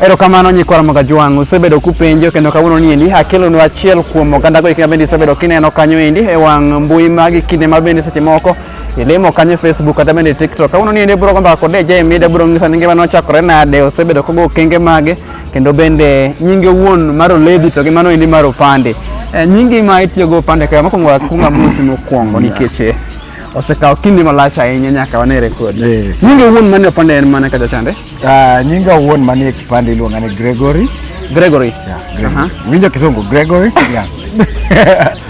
Erokamano nyikwa Ramoga Jwang', usebedo kupenjo kendo kawuono ni endi akelonu achiel kuom oganda go bende isebedo kineno kanyo endi e wang' mbui magi kinde ma bende seche moko ilimo kanyo Facebook kata bende TikTok. Kawuono ni endi bro gomba kod DJ Mida bro ng'isa ni ngima nochakore nade, osebedo kogo okenge mage kendo bende nyinge wuon mar Olevi to gi mano endi mar Opande. E, nyingi ma itiyogo Opande kae mokwongo akwongo amosi mokwongo nikech osekawo kinde malach ahinya nyaka wane rekod Eh. nyinge wuon mane opande en mane kacha chande Ah, nyinga wuon manie kipande iluonga ni gregory gregory Yeah, Gregory. Aha. winjo kisungu gregory yeah.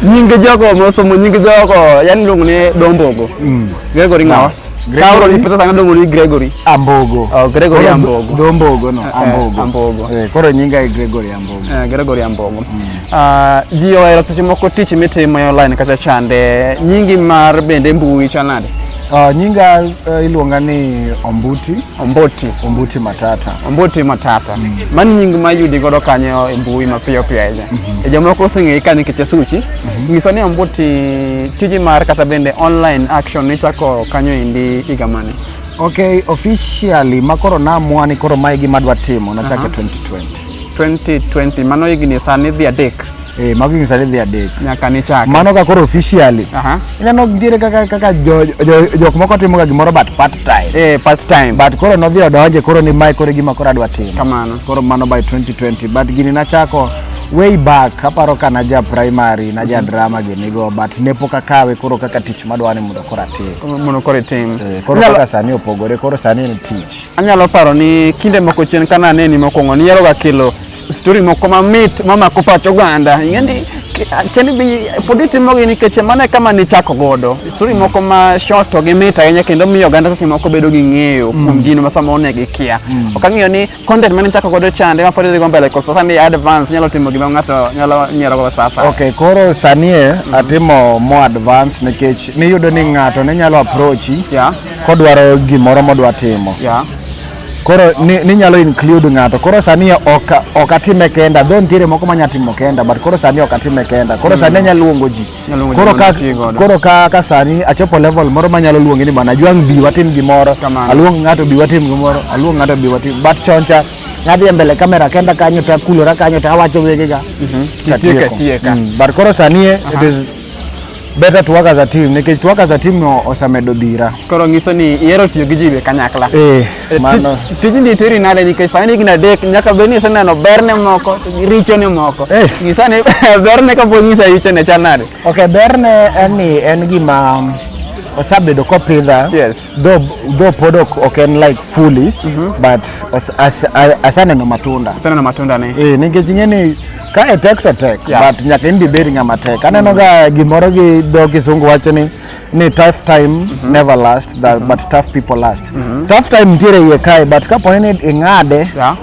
nyinge jogo mosomo nyinge jogo yani iluongo ni dombogo Mm. gregory ngawa Gregory. kaoro ni pesa sanga dongo ni gregory ambogo Oh, Gregory Koro Ambogo. dho- dho mbogo no Eh, ambogo Ambogo. Eh, koro nyinga e gregory ambogo Eh, gregory ambogo Uh, ji ohero seche moko tich mitimo e online kata chande. Nyingi mar bende mbui chal nade? Uh, nyinga uh, iluonga ni Ombuti. Omboti. Ombuti Matata. Omboti Matata. Mm. Mani nying ma yudi godo kanyo e mbui mapiyo piyo ahinya. Mm -hmm. E jomoko oseng'eyi ka nikech e suchi. Mm -hmm. Nyiso ni Ombuti tiji mar kata bende online action nichako kanyo endi higa mane? Okay, officially makoro namwani koro mae gima adwa timo nachake uh -huh. 2020. 2020 mano higni sani dhi adek eh mago higni sani dhi adek nyaka ni chak mano ka koro officially aha ineno nitiere kaka kaka jo- jo- jok moko timo ga gimoro but part time eh part time but koro nodhi odonje koro ni mae koro e gima koro adwa timo kamano koro mano by 2020 but gini nachako way back aparo ka naja primary naja drama ginigo but ne pok akawe koro kaka tich madwa ni mondo koro atim mondo koro itim Eh, koro Inyalo- kaka sani opogore koro sani en tich Anyalo paro ni kinde moko chien kana aneni mokwongo niheroga kelo stori moko mamit mamako pach oganda ing'eni cheni bi pod itimogi nikech mano e kama nichako godo stori moko ma short to gimit ahinya kendo miyo oganda seche moko bedo gi ng'eyo mm. kuom gino ma sama one gikia mm. ok ang'eyo ni content mane nichako godo chande ma pod idhigo mbele koso sani advance nyalo timo gima ng'ato nyalo nyierogo sasa ok koro sani e, mm. atimo mo advance nikech niyudo ni ng'ato ne nyalo approachi kodwaro gimoro modwa timo yeah. koro ninyalo ni include ng'ato koro sani ok ok atime kenda dho nitiere moko manya timo kenda but koro sani ok atime kenda koro sani mm. anyalo luongo ji koro ka koro ka ka sani achopo level moro manyalo luongi ni bana jwang bi watim gimoro aluong ng'ato bi watim gimoro aluong ng'ato bi watim but choncha nadhi e mbele kamera kenda kanyo ta kulora kanyo ta awacho wegega mm -hmm. katieko mm. but koro sani uh -huh. it is better to work as a team nikech to work as a team no osamedo dhira koro ngiso ni ihero tiyo gi jiwe kanyakla eh, eh mano tijni tiri nade nikech sani higni adek nyaka bed ni iseneno berne moko richone moko eh. ngisa ni berne kapod ngisa richone chal nade ok berne en ni en gima osabedo kopidha yes Though, though podok ok en like fully mm -hmm. but as, as, as, asaneno matunda asaneno matunda ni eh nikech ing'e ni ka e tek to tek yeah. but nyaka in dibedi ng'ama tek aneno mm. ga gimoro gi dho kisungu wacho ni ni tough time mm -hmm. never last that, mm -hmm. but tough people last mm -hmm. tough time nitiere iye kae but kaponi ni ing'ade yeah.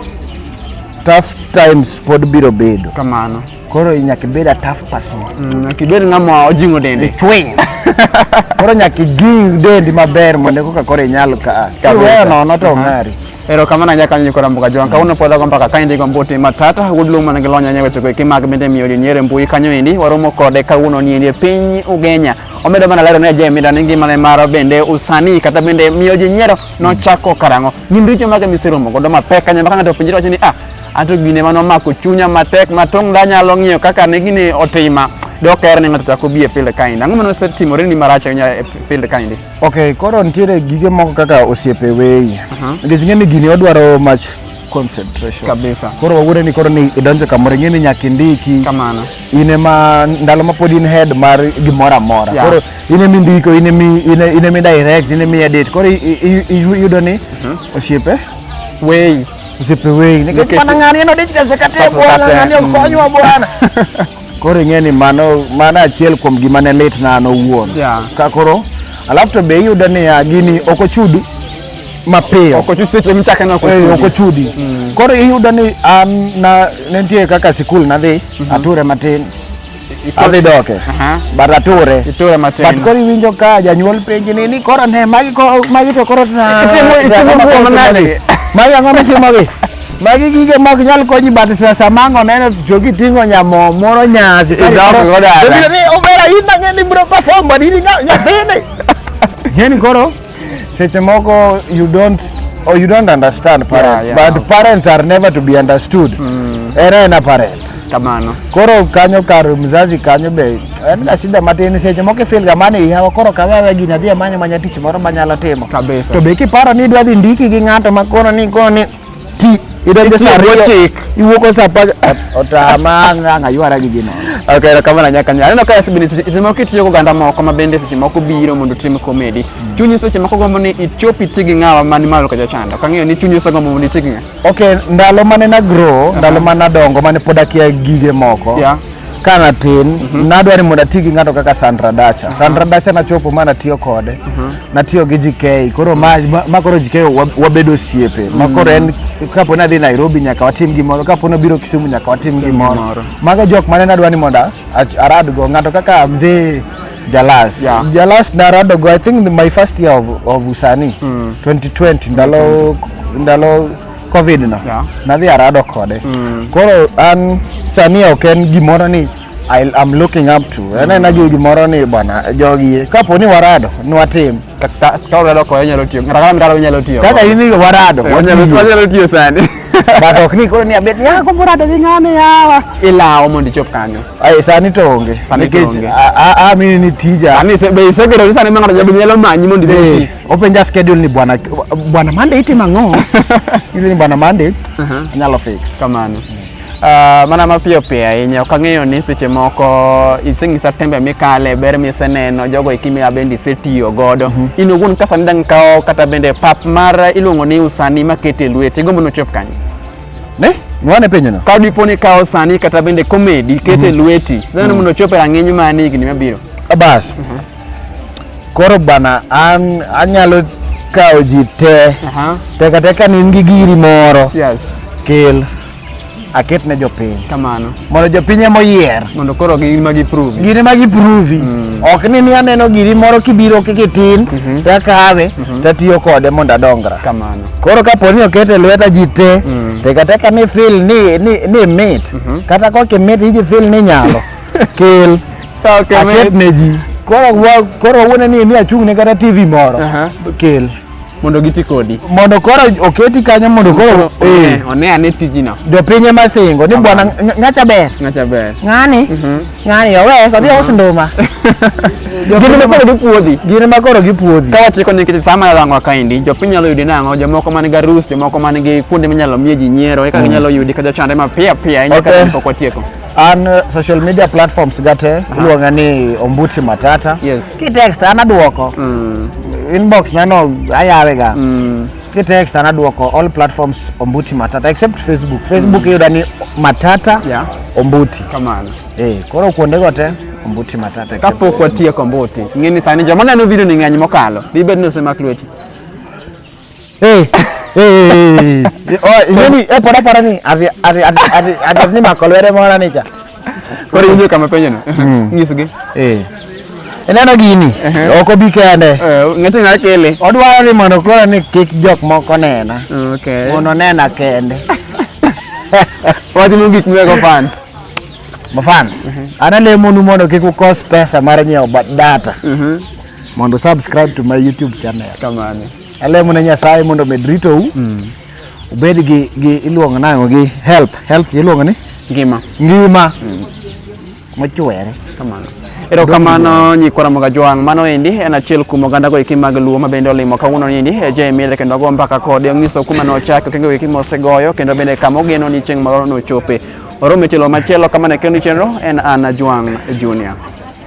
tough times pod biro bedo kamano Koro nyaka ibed a tough person. Mm, nyaka ibed ng'ama ojing'o dende. Chwiny. Koro nyaka ijing dendi maber mondo koka koro inyal ka. Kiweyo nono to ong'ari. Ero kamano anyaka nyi kora mbuga jwang. Kawuono podha go mpaka kaendi go mbuti matata. Wuod Luo man gi lony anya weche koeki mag bende miyo jonyere mbui kanyo endi. Waromo kode kawuono ni endi e piny Ugenya. Omedo mana lero ne Jay Mida ni ngimane mar bende usanii kata bende miyo ji nyiero nochako karang'o. Gin richo mage miseromo godo mapek kanya ma ka ng'ato openjore wacho ni ah Anto gine mane omako chunya matek ma tong' danyalo ng'iyo kaka ne gini otima dok er ni ng'ato chako bi e field kaendi. Ang'o mane osetimore ni marach ahinya e field kaendi? Okay, koro nitiere gige moko kaka osiepe weyi. Nikech ing'e ni gini odwaro much concentration. Kabisa. Koro wawuore ni koro ni idonjo kamoro ing'e ni nyaka indiki. Kamano. In ema ndalo ma pod in head mar gimoro amora. Yeah. Koro in ema indiko, in ema i- in e- in ema i direct, in ema i edit. Koro i- i- i- iyudo ni osiepe Weyi. Msipe wei. Nikech mana ng'ani en odich kasekate bwana ng'ani okonywa bwana. Koro ing'e ni mano mano achiel kuom gima ne lit na an owuon. Yeah. Ka koro alafu to be iyudo niya gini ok ochudi mapiyo ok ochudi seche michake na eh, ok ochudi mm. koro iyudo ni an na nitie kaka sikul nadhi mm -hmm. ature matin adhi doke but ature iture matin but koro iwinjo ka janyuol penji ni ni koro ne magi ko magi to koro na magi ang'o mitimogi magi gige mok nyal konyi but sasa mango neno to giting'o nyamo moro nyasi idoko godo ni obera in ang'e ni bro perform but in nyathini ng'eni koro Seche moko you don't or you don't understand parents yeah, yeah. but parents are never to be understood. Mm. Era ena parent. Kamano. Koro kanyo kar mzazi kanyo be en ga shida matin seche moko feel ga mane ihawa koro ka wewe gini adhi amanya manya tich moro manyalo timo. Kabisa. To be kiparo ni idwa dhi ndiki gi ng'ato ma kono ni kono ni ti idonjo sa ariyo chik iwuok sa apar otama ngang aywara gi gino ok ero kamano nyaka nyaka aneno ka yasbini seche moko itiyo go ganda moko ma bende seche moko biro mondo tim komedi mm. chunyi seche moko gombo ni ichop iti gi ng'awa man malo ka jachanda ok ang'eyo ni chunyi ose gombo mondo iti gi ng'a ok ndalo mane na grow ndalo mane adongo mane pod akia gige moko yeah. ka an atin mhm. nadwa ni mondo ati gi ng'ato kaka Sandra Dacha. Sandra Dacha nachopo ma natiyo kode, mhm. natiyo gi JK, koro ma ma koro JK wabedo osiepe. Ma mhm. koro en kapo ni adhi Nairobi nyaka watim gimoro, kapo ni obiro Kisumu nyaka watim gimoro. Mago jok mane nadwa ni mondo aradgo ng'ato kaka mzee Jalas. Yeah. Jalas naradogo I think my first year of, of usani mm. 2020 ndalo mm -hmm. ndalo covid no yeah. nadhi arado kode mm. koro an sani ok en gimoro ni I, I'm looking up to mm. anena gi gimoro ni bwana jogi kapo ni warado ni watim kaka urado kode nyalo tiyo kata kama mirado nyalo tiyo kaka in warado eh, wanyalo tiyo sani but ok ni koro ni abet ya ko morado gi ng'ane yawa ilawo mondo ichop kanyo ai sani to onge nikech a a mini ni tija ani se be isegedo ni sani ma ng'ato nyalo manyi mondo ichop eh. Openja schedule ni bwana bwana Monday itimo ang'o? Ili ni bwana Monday Aha. anyalo fix. kamano uh, mana mapiyo piyo ahinya ok ang'eyo ni seche moko iseng'isa tembe mikale ber miseneno jogo eki ma bende isetiyo godo in owuon ka sani dang' kawo kata bende pap mar iluongo ni usani makete lweti gombo nochop kanyo Ne? Nwane penyo no. ka dipo ni kawo sani kata bende komedi kete lweti sani mondo ochop e rang'iny mani higni mabiro Bas. Koro bana an anyalo kawo ji te Aha. te kata ka ne in gi giri moro Yes. kel aket ne jopiny Kamano. mondo jopiny ema oyier Mondo koro gin ma giprove. giri ma giprovi ok ni ni aneno giri moro kibiro kikitin to akawe to atiyo kode mondo adongra Kamano. koro kapo ni oket e lweta ji te tekateka ni fil ni, ni, ni mit kata kok imit iji fil ni nyalo kel Okay, aket mate. ne ji koro wa- koro wuone ni mi achung' ne kata tv moro Aha. kel Mondo giti kodi. mondo koro oketi kanyo mondo koro eh, One- One ane tijino. jopiny ema singo ni bwana ng- ng'acha ber Ng'acha ber. ng'ani ng'ani owe kodhi aus nduma Gin ma koro gipuodhi. gin ema koro gipuodhi Ka watieko nikech sama yalang'wa kaendi, jopiny nyalo yudi nang'o, jomoko man gi arus, jomoko man gi kuonde minyalo mie ji nyiero, eka ginyalo yudi ka jochandre mapiyo piyo, ahinya ka Okay. pok watieko. an uh, social media platforms gate uh -huh. iluonga ni ombuti matata yes. kitext an aduoko mm. inbox nano ayawega mm. kitext an aduoko all platforms ombuti matata except facebook facebook mm. iyuda ni matata yeah. ombuti kamano hey, eh, koro kuondego te ombuti matata kapok watieko ombuti ng'eni sani joma neno video ni ng'eny mokalo dibed ni osemak lweti Eh, eh, eh, oh, inyoni eh pora pora ni ati ati ati ati ati ni makolwere mora ni cha. Kore inyo kama penyo no. Hmm. Ngisugi. Eh. Eneno gini, ok obi kende. Eh, ng'eto nyalo kele. Odwaro ni mondo koro ni kik jok moko nena. Okay. Mondo nena kende. Watimo gik mwego fans. Ma fans. Mhm. Ana lemonu mondo kik ukos pesa mar nyiewo data. Mhm. mondo subscribe to my YouTube channel. Kamano. Alemo ne Nyasaye mondo med rito u. Mm. Ubed gi gi iluongo nango gi health. Health iluongo ni ngima. Ngima. Mm. Mochwere. Kamano. Ero kamano nyikora moga joang mano endi en achiel kuom oganda go iki mag luo mabende olimo kawuono ni ni eje emile kendo go mbaka kode onyiso kuma no chake kendo wiki mosegoyo kendo bende kama ogeno ni chieng' moro no chope. Orome chelo machielo kamano kendo chenro en Anna Juang Junior.